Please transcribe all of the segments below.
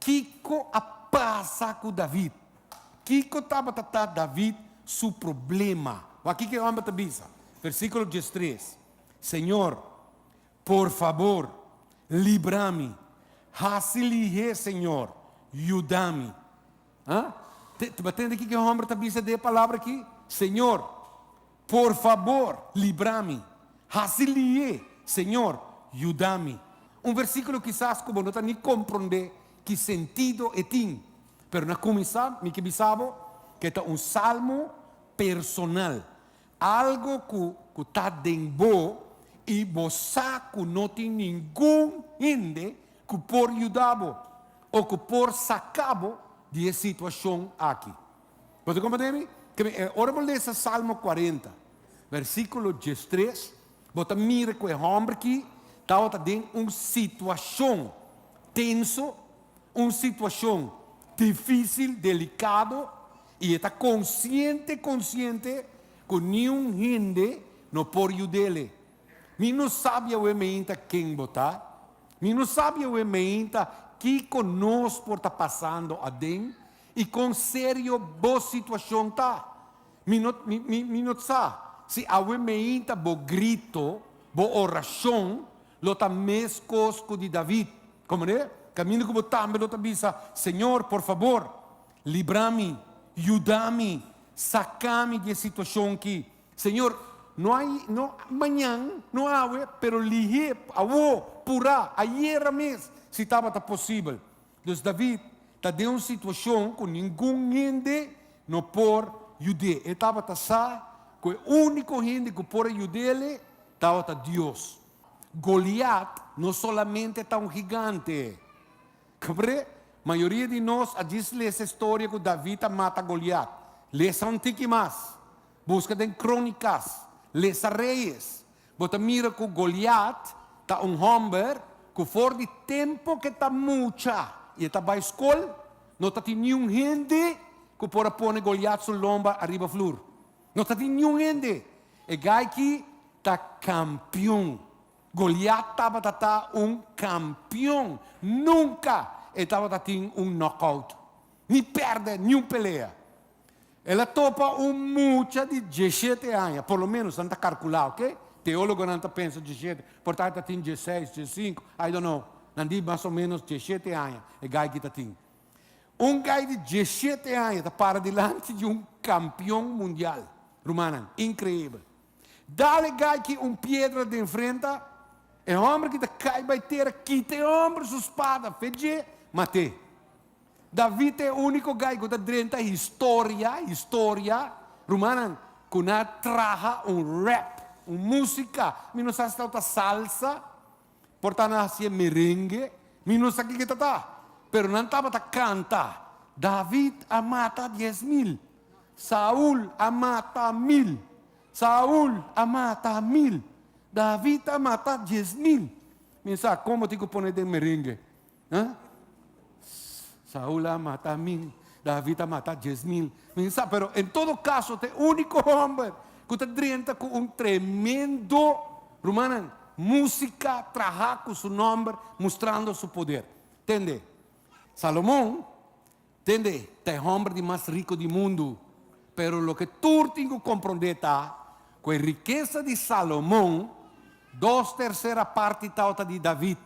Kiko a pasa ku David? Kiko tabata ta David su problema? Wak kiko e hòmber ta bisa, versíkulo diestres, Señor, por fabor, libra mi, hasi lihé, Señor, yuda mi. Aa? T-tende kiko e hòmber ta bisa dje palabra akí? Señor, Por fabor, libra mi. Haci liye, Señor, yuda mi. Un versículo kisas ku bo no ta ni komprondé ki sentido e tin, pero na kuminsá mi ke bisa bo ku e ta un salmo personal, algu ku ku ta den bo i bo sa ku no tin ningun hende ku por yuda bo o ku por saka bo di e situashon aki. Bo ta comprende mi? Ora bo lesa Salmo cuarenta, versiculo diestres, bo ta mira cu e homber aki tabata den un situacion tenso, un situacion dificil, delicado, y e ta consciente, consciente cu niun hende no por yudele. Mi no sabi awe meinta ken bo ta, mi no sabi awe meinta kico nos por ta pasando aden, i kon serio bo situacion ta. Mi no mi no sa si awe meinta bo grito, bo oracion lo ta mes cos cu di David. Comprende? Caminda cu bo tambe lo ta bisa, Señor, por fabor, libra mi, yuda mi, saca mi di e situacion aki. Señor, no ai, no mañan, no awe, pero lih'é awo, purá, ayera mes, si tabata posibel. Dus David ta den un situashon ku ningun hende no por yud'é. E tabata sa ku e úniko hende ku por a yud'é tabata Dios. Goliat no solamente ta un higante. Kap'é? Mayoria di nos a djis lesa e storia ku David a mata Goliat. Lesa un tiki mas. Buska den Krónikas. Lesa Reyes. Bo ta mira cu Goliat ta un homber cu for di tempo cu e ta mucha y e ta bay scol, no ta tin niun hende cu por a pone Goliat su lomba ariba flur. No ta tin niun hende. E gayki ta campeon. Goliat tabata ta un campeon. Nunca e tabata tin un knock-out, ni perde niun pelea. El a topa un mucha di diesshete aña, por lo menos nan ta carcula, ok. Teologonan ta pensa diesshete, por ta e ta tin diesseis, diessinco, I don't know, nan di mas o menos diesshete aña e gaiky ta tin. Un gai di diesshete aña ta para dilanti di un campeon mundial, rumannan, increibel. Dal e gaiky un piedra den frenta, e homberky ta cay bay tera, kita e homber su spada, fe dje, mat'e. David ta e úniko guy ku ta drenta historia, historia, rumannan, ku na traha un rap, un músika. Mi no sa si ta ta salsa, por ta na hasié merengue, mi no sa kiko ta ta, pero nan tabata kanta, David a mata dies mil, Saul a mata mil, Saul a mata mil, David a mata dies mil. Mi no sa kon bo tin ku pone den merengue. Ha? Saul a mata min, David a mata diez mil. Min sa, pero en todo caso, te único homber cu te drenta cu un tremendo, rumanan, música, traha cu su nomber, mostrando su poder. Tende, Salomon, tende, te homber di mas rico di mundo, pero lo que tur tin cu comprende ta, cu e riqueza di Salomon, dos tercera parti tawata di David.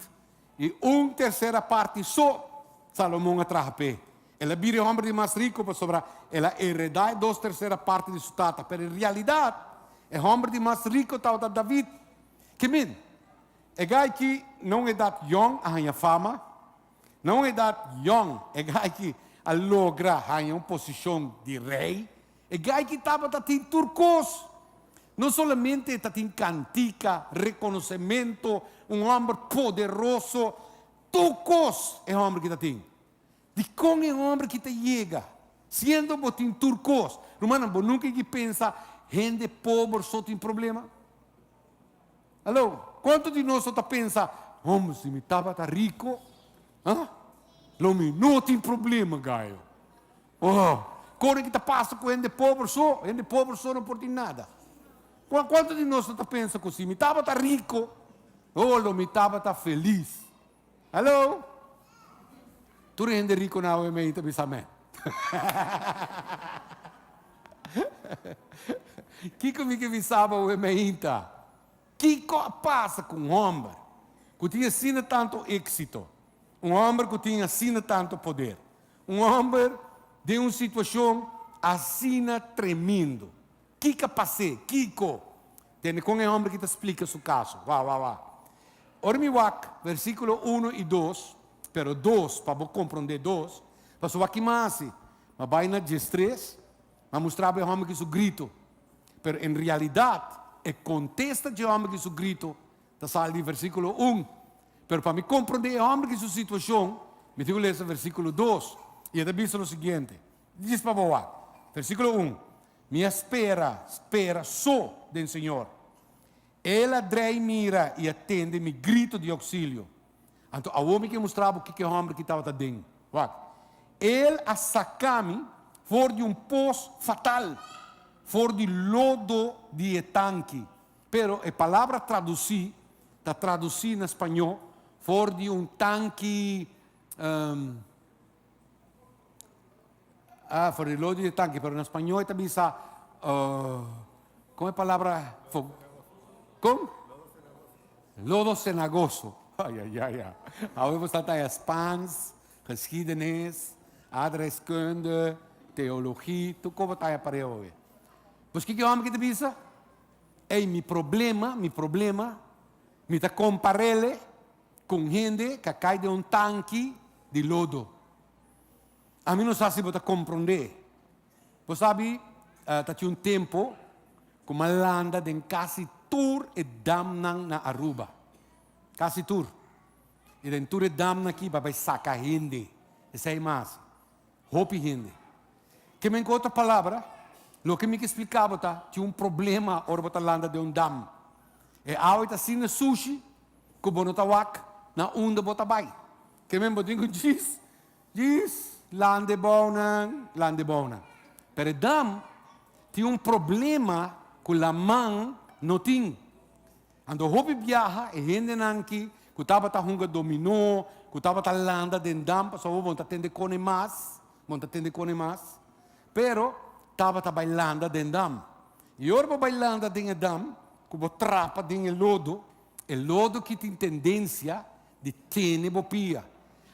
I un tersera parti so Salomon a traha p'e. El a bira e hòmber di mas riku pasobra el a eredá e dos tersera parti di su tata. Pero i realidat, e hòmber di mas riku tabata David. Ki min, e gai ki na un edat yòn a haña fama. Na un edat yòn e gai ki a logra haña un posishon di rei. E gayki tabata tin tur kos. No solamente e ta tin kantika, rekonosementu, un hòmber poderoso, tur kos e hòmber ki ta tin. Dikon e hòmber ki ta yega siendo bo tin tur kos? Rumannan, bo nunka yegi pensa hende pober so tin problema? Haló, kuantu di nos lo ta pensa, Hòmber, si mi tabata riko, ha? Lo mi no tin problema, gayo. Oh, kon e ki ta pasa ku hende pober so? Hende pober so no por tin nada. Kua, kuantu di nos no ta pensa ku si mi tabata riko, oh, lo mi tabata felis? Haló? Tur e hende riko na oe mi ei ta bisa amén. Kiko mi ke bisaba oe mi ainta? Kiko a pasa ku un hòmber ku tin asina tantu éksito, un hòmber ku tin asina tantu poder? Un homber den un situacion asina tremindo. Kica pasé? Kico? Tende con e homber ki ta splica su caso. Wah, wah, wah. Ora mi wak versiculo uno y dos, pero dos, pa bo comprende dos, pasobra aki m'a haci, m'a bay na Djestrés, m'a mustrabo e homber ki su grito, pero en realidad e contesta dje homber ki su grito, Ta sali di versikulo un, pero pa mi komprondé e hòmber ki su situashon, mi tin ku lesa versikulo dos, i e ta bisa lo siguiente, Djis pa bo wak. Versikulo un, Mi a spera, spera so den Señor. El a drei mira i a tende mi grito di ouksilio. Anto awor mi ke mustra bo kiko e hòmber ki tabata den. Wak. El a saka mi for di un pos fatal, for di lodo di e tanki. Pero e palabra traduci ta traduci na spañó for di un tanki, ehm, ah, for di lojo di e tanki, pero na spañó e ta bisa, oh, con e palabra, fo, con? Lodo senagoso, ay, ay, ay, ya, awe bo sa ta ya Spaans, geschiedenis, aardrijkskunde, theologie, tur koba ta ya pare awe. Pues kiko e homber ki ta bisa? Ey mi problema, mi problema, mi ta comparele cu un hende ca cay den un tanki di lodo. A mi no sa si bo ta compronde. Bo sabi, uh, ta tin un tempo cu ma landa den casi tur e damnan na Aruba. Casi tur. Y den tur e damnan aki, pa bay saca hende. Esey mas. Hopi hende. Ke men ku otro palabra, loke mi ke spliká bo ta, tin un problema ora bo ta landa den un dam. E awa i ta así na sushi ku bo no ta wak na unda bo ta bai. Ke men bo drinka un djis, djis, landa e bounan, landa e bounan. Pero e dam tin un problema ku laman no tin. Anto hopi biaha e hendenan ki ku tabata hunga dominó, ku tabata landa den dam pasobra bon ta tende kone mas, bon ta tende kone mas, pero tabata bai landa den dam. I ora bo bai landa den e dam, ku bo trapa den e lodo, e lodo ki tin tendensia di tene bo pia.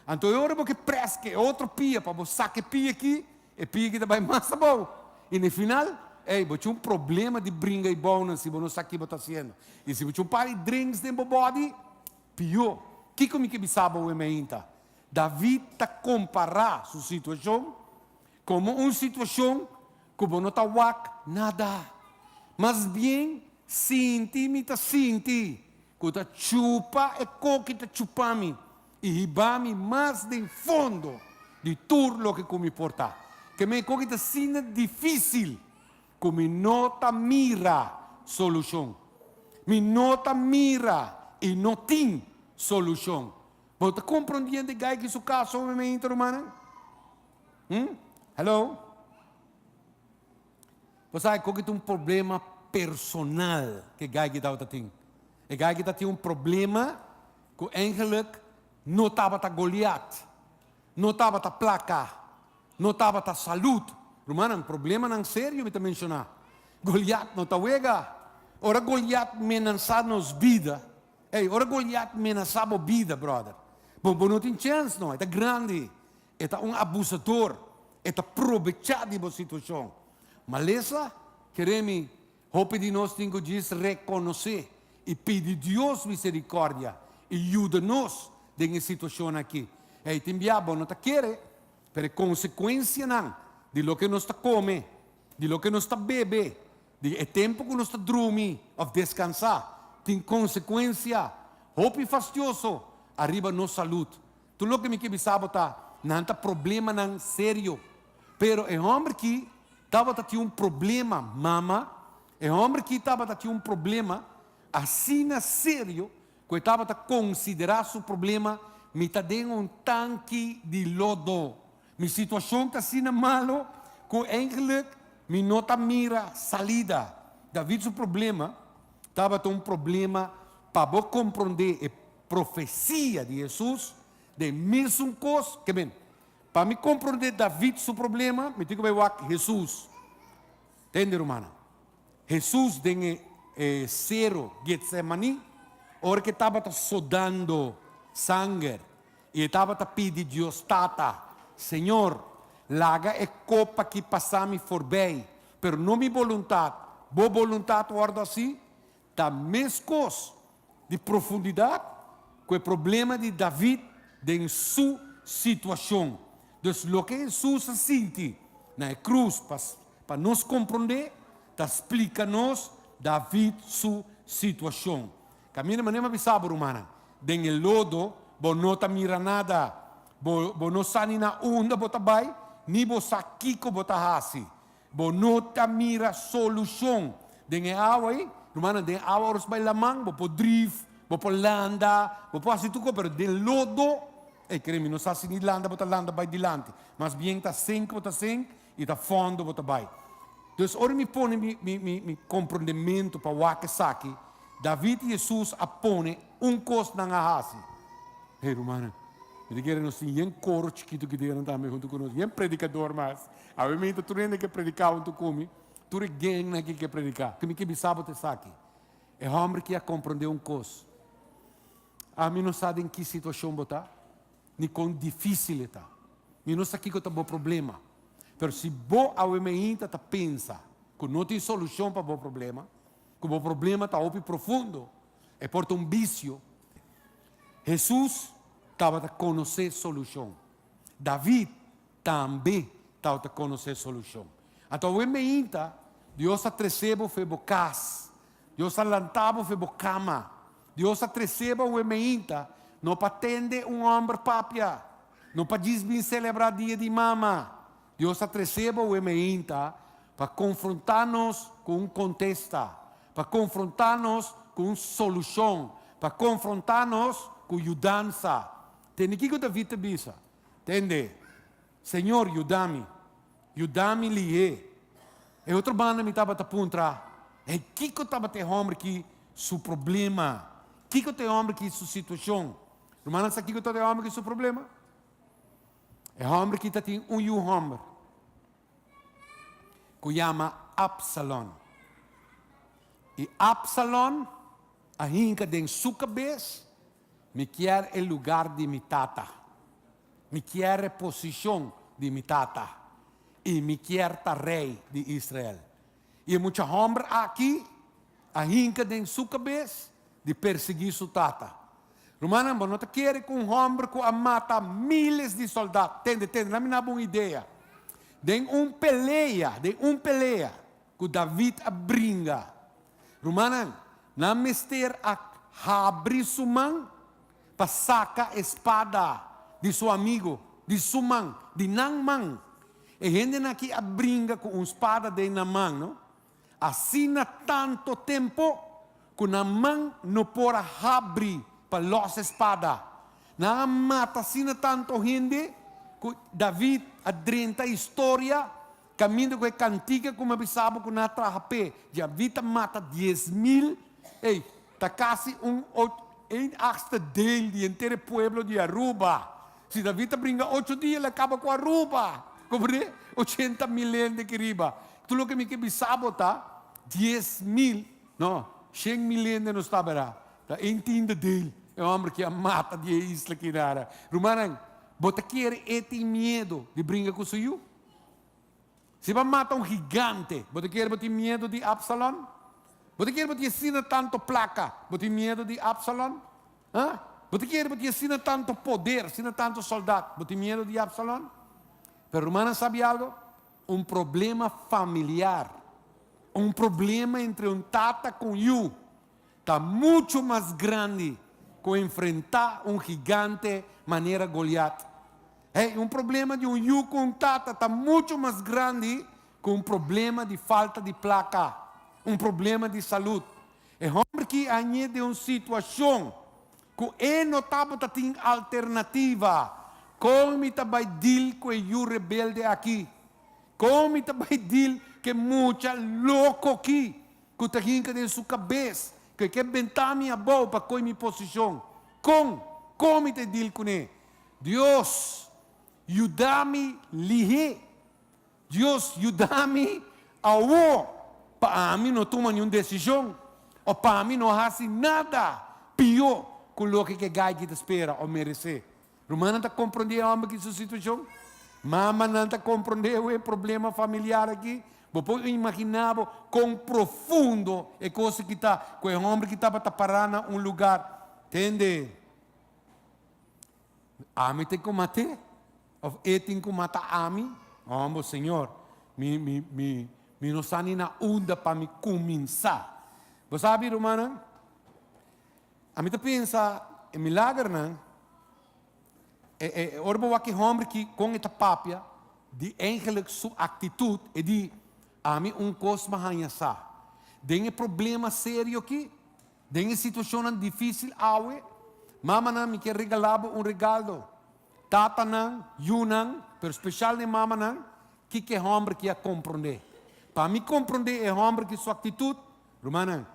Anto e ora bo ke prèske e otro pia pa bo saka e pia ki, E pigi ta bai mas abou. I na e final, ey, bo cu un problema di bringa i bounan si bo no sa ki bo ta haciendo. I si bo cu un par di drinks den bo body, pió. Kico mi ke bisa bo wen mi ainta? David ta compara su situacion como un situacion cu bo no ta wak nada. Mas bien sinti mi ta sinti cu ta chupa e coki ta chupa mi. I hiba mi mas den fondo di tur loke ku mi por ta. Ke mei ku aki ta asina difisil ku mi no ta mira solushon. Mi no ta mira i no tin solushon. Bo ta komprondiendo e gaiken su kaso un momentu, rumannan? Hm? Hèlo? Bo sabe ku aki ta un problema personal ku e gaiken tabata tin. E gaiken ta tin un problema. Ku engeluk no tabata Goliat, no tabata plaka, no tabata salut. Rumannan, problemanan serio mi ta menshoná. Goliat no ta wega. Ora Goliat menasá nos bida, ey, ora Goliat menasá bo bida, bròder, bo, bo no tin chèns, nò. E ta grandi. E ta un abusador. E ta probechá di bo situashon. Malesa, kere mi, Hopi di nos tin ku djis rekonosé i pidi Dios miserikòrdia i yuda nos den e situashon akí. E tin bia bo no ta kere, pero e konsekuensianan di loke nos ta kome, di loke nos ta bebe, di e tempu ku nos ta drumi òf deskansá, tin konsekuensia hopi fastioso ariba nos salud. Tur loke mi ke bisa bo ta, nan ta problemanan serio. Pero e hòmber ki tabata tin un problema, mama, e hòmber ki tabata tin un problema asina serio ku e tabata konsiderá su problema, Mi ta den un tanki di lodo. Mi situashon ta asina malu ku eindelijk mi no ta mira salida. David su problema tabata un problema pa bo komprondé e. Profesia di Hesus den misun kos ke men. Pa mi komprondé David su problema, mi tin ku bai wak Hesus. Tende, rumannan. Hesus den e sero Getsemaní, ora ke tabata sudando sanger i e tabata pidi Dios, Tata, Señor, laga e kop aki pasa mi forbei, pero no mi boluntat, Bo boluntat wòrdu así. Ta meskos di profundidat ku e problema di David den su situashon. Dus loke Hesus a sinti na e krus pa pa nos komprondé ta splika nos David su situashon. Kaminda manera mi a bisa bo, rumannan, den e lodo bo no ta mira nada, bo bo no sa ni na unda bo ta bai ni bo sa kiko bo ta hasi. Bo no ta mira solucion den e awa ei. Rumannan, den awa ora su bai laman, bo por drift, bo por landa, bo por haci tur cos, pero den lodo, ey, cree mi, no sa si ni landa bo ta landa bai dilanti, mas bien ta sink bo ta sink y ta fondo bo ta bai. Entonces, ora mi pone mi, mi, mi, mi comprendemento pa wak esaki, David y Jesus a pone un cos nan a haci. Hey, rumannan, mi ta kere nos tin yen coro chikito ki diga nan tambe hunto cu nos, yen predicador mas. Awe mi ta tur hende ke predika un tur ku mi, tur e geng na aki ke predika. Ke mi ke bisa bo ta esaki, E hòmber aki a komprondé un kos, ami no sa den ki situashon bo ta, ni kon difísil e ta. Mi no sa kiko ta bo problema, pero si bo awe mainta ta pensa ku no tin solushon pa bo problema, ku bo problema ta hopi profundo, e por ta un bisio. Hesus tabata konosé solushon. David. tambe tawata konosé solushon. Anto awe meinta, Dios a tresé bo fe bo kas, Dios a lantá bo fe bo kama. Dios a tresé bo awe meinta, no pa tende un hòmber papia, no pa djis bin selebrá Dia di Mama. Dios a tresé bo awe meinta, pa konfrontá nos ku un kontesta, pa konfrontá nos ku un solushon, pa konfrontá nos ku yudansa. Tende kiko David ta bisa? Tende, Señor, yuda mi, yuda mi lih'é. E otro banda mi tabata puntra, Hey, kiko tabata e hòmber ki su problema? Kiko ta e hòmber ki su situashon? Rumannan sa kiko tabata e hòmber ki su problema? E hòmber ki tatin un yu hòmber ku yama Absalon. I Absalon a hinka den su kabes Mi kier e lugar di mi tata. Mi kier e posishon di mi tata, i mi kier ta rei di Israel. I e mucha hòmber aki a hinka den su kabes di persiguí su tata. Rumannan, bo no ta kere ku un hòmber ku a mata míles di sòldat. Tende, tende, lami naba un idea. Den un pelea, den un pelea ku David a bringa, Rumannan, nan mester a habri su man pa saca e spada di su amigo, di su man, di nan man. E hendenan aki a bringa cu un spada den nan man, no? Asina tanto tempo cu nan man no por a habri pa los e spada. Nan a mata asina tanto hende cu David a drenta historia Caminda cu e cantica cu mi a bisa bo cu nan a traha p'e, ya vi ta mata dies mil, ey, ta casi un och, een achtste deel di henter e pueblo di Aruba. Si David ta bringa ocho dia, el a caba cu Aruba. Comprende? Ochenta mil hende aki riba. Tur loke mi ke bisa bo ta, dies mil, no, shen mil hende nos taba era. Ta een tiende deel e homber aki a mata di e isla aki nada. Rumannan, bo ta kere e tin miedo di bringa cu su yu? Si bo a mata un gigante, bo ta kere bo tin miedu di Absalon? Bo ta kere bo tin asina tantu plaka? Bo tin miedu di Absalon? Ha? Bo ta kere bo tin asina tantu poder, asina tantu sòldat? Bo tin miedu di Absalon? Pero rumannan sabi algu? Un problema familiar, un problema entre un tata ku un yu, Ta muchu mas grandi ku enfrentá un gigante manera Goliat. Hey, un problema di un yu ku un tata ta muchu mas grandi ku un problema di falta di plaka, un problema di salut. E hòmber ki a ñe den un situashon ku e no tabata tin alternativa, Kon mi ta bai dil ku e yu rebelde aki? Kon mi ta bai dil ku e mucha loko ki? Cu ta hinca den su cabes, cu e ke benta mi abou pa coy mi posicion. Con? Con mi ta e deal cune? Dios, yuda mi lihe. Dios, yuda mi awor pa ami no tuma niun decision of pa ami no haci nada pio cu loke ke gaiky ta spera of merece. Rumannan ta komprondé e hòmber aki su situashon? Mamanan ta komprondé awor e problema familiar aki? Bo por imaginá bo kon profundo e kos aki ta ku e hòmber aki tabata pará na un lugar hende ami tin ku mat'é òf e tin ku mata ami? Hòmber, o señor, mi mi mi mi no sa ni na unda pa mi kuminsá. Bo sabe, rumannan, Ami ta pensa e milagernan, e e ora bo wak e homber ki kon e ta papia di eigenlik su aktitut e di ami un kos mi a haña sa den e problema serio ki, den e situashonnan difisil awe, mamanan mi kier regalá bo un regaldo, tatanan, yunan, pero speshal na e mamanan, kiko e homber ki a komprondé. Pa mi komprondé e homber ki su aktitut, rumannan,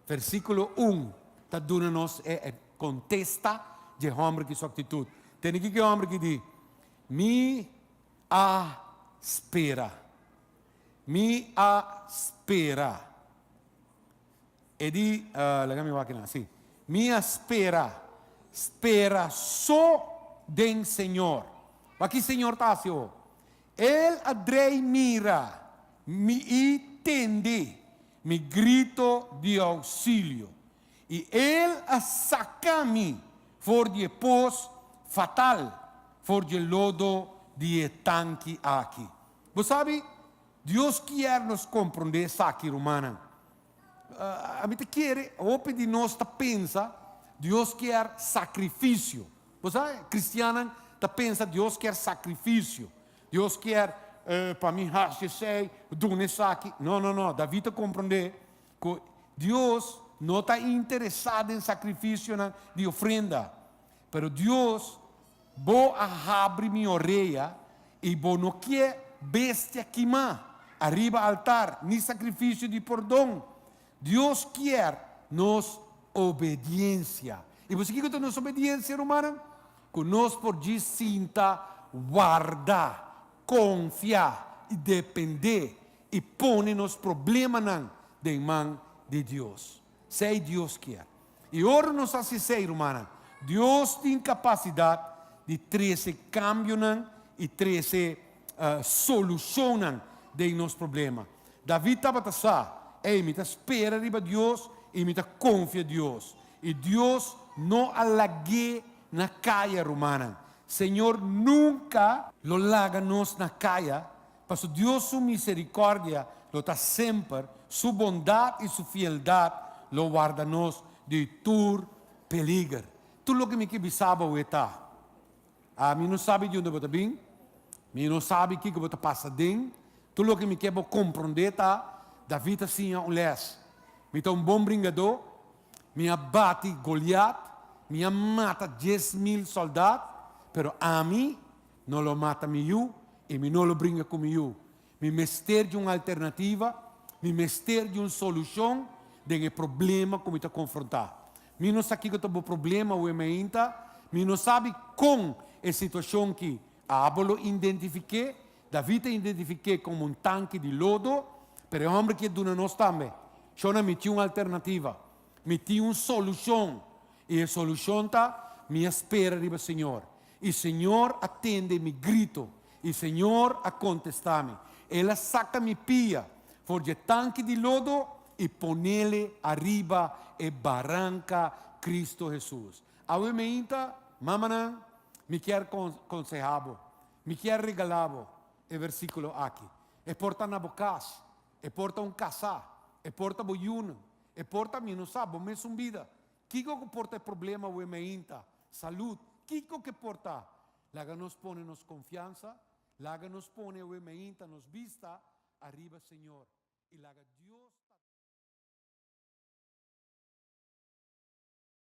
Versíkulo un ta duna nos e kontesta di e hòmber ki su aktitut. Tene kiko e hòmber ki di, Mi a spera. Mi a spera. E di, laga mi wak nan, sí. Mi a spera. Spera so den Señor. Wak ki Señor ta hasi awo. El a drei mira, mi i tende. Mi grito di ousilio i el a saka mi for di e pos fatal, for di e lodo di e tanki aki. Bo sabi, Dios kier nos komprondé esaki, rumannan. Mi ta kere hopi di nos ta pensa Dios kier sakrifisio. Bo sa, kristiannan ta pensa Dios kier sakrifisio. Dios kier pa mi haci esey, duna esaki. No, no, no. David a comprende cu Dios no ta interesa den sacrificionan di ofrenda. Pero Dios, bo a habri mi orea y bo no kier bestia kima ariba altar, ni sacrificio di pordon. Dios kier nos obediencia. I bo sa kiko ta nos obediencia, rumannan? Ku nos por dj'i sinta warda, konfia i dependé i pone nos problemanan den man di Dios. Sei Dios kier. I ora nos hasi esei, rumannan, Dios tin kapasidat di trese kambionan i trese solushonnan den nos problema. David tabata sa, Ei, mi ta spera riba Dios i mi ta konfia Dios. I Dios no a lag'é na kaya, rumannan. Señor nunka. Lo laga nos na kaya, Pasobra Dios su miserikòrdia lo ta semper, su bondat i su fieldat lo warda nos di tur peliger. Tur loke mi ke bisa bo awé ta, Ami no sabi di unde bo ta bin, mi no sabi kiko bo ta pasa den. Tur loke mi ke bo komprondé ta, David a siña un lès, Mi ta un bon bringadó, mi a bati Goliat, mi a mata dies mil sòldat, pero ami No lo mata mi yu i mi no lo bringa ku mi yu. Mi mester di un alternativa, mi mester di un solushon den e problema ku mi ta konfrontá. Mi no sa kiko ta bo problema wen mi ainta, mi no sabi kon e situashon ki abo lo indentifiké. David a indentifiké komo un tanki di lodo, pero e hòmber ki a duna nos tambe shona, Mi tin un alternativa, mi tin un solushon, i e solushon ta, Mi a spera riba Señor. I Señor a tende mi grito, i Señor a kontestá mi. El a saka mi pia for dje tanki di lodo i ponele ariba e baranka Kristu Hesus. Awe meinta, mamanan, mi kier konsehá bo, mi kier regalá bo e versíkulo aki. E por ta na bo kas, e por ta un kasá, e por ta bo yunan, e por ta mi no sa bo mes un bida, Kiko ku por ta e problema wem ainta? Salud. Kiko ke por ta? Laga nos pone nos konfiansa, laga nos pone wem ainta nos bista ariba Señor i laga Dios ta.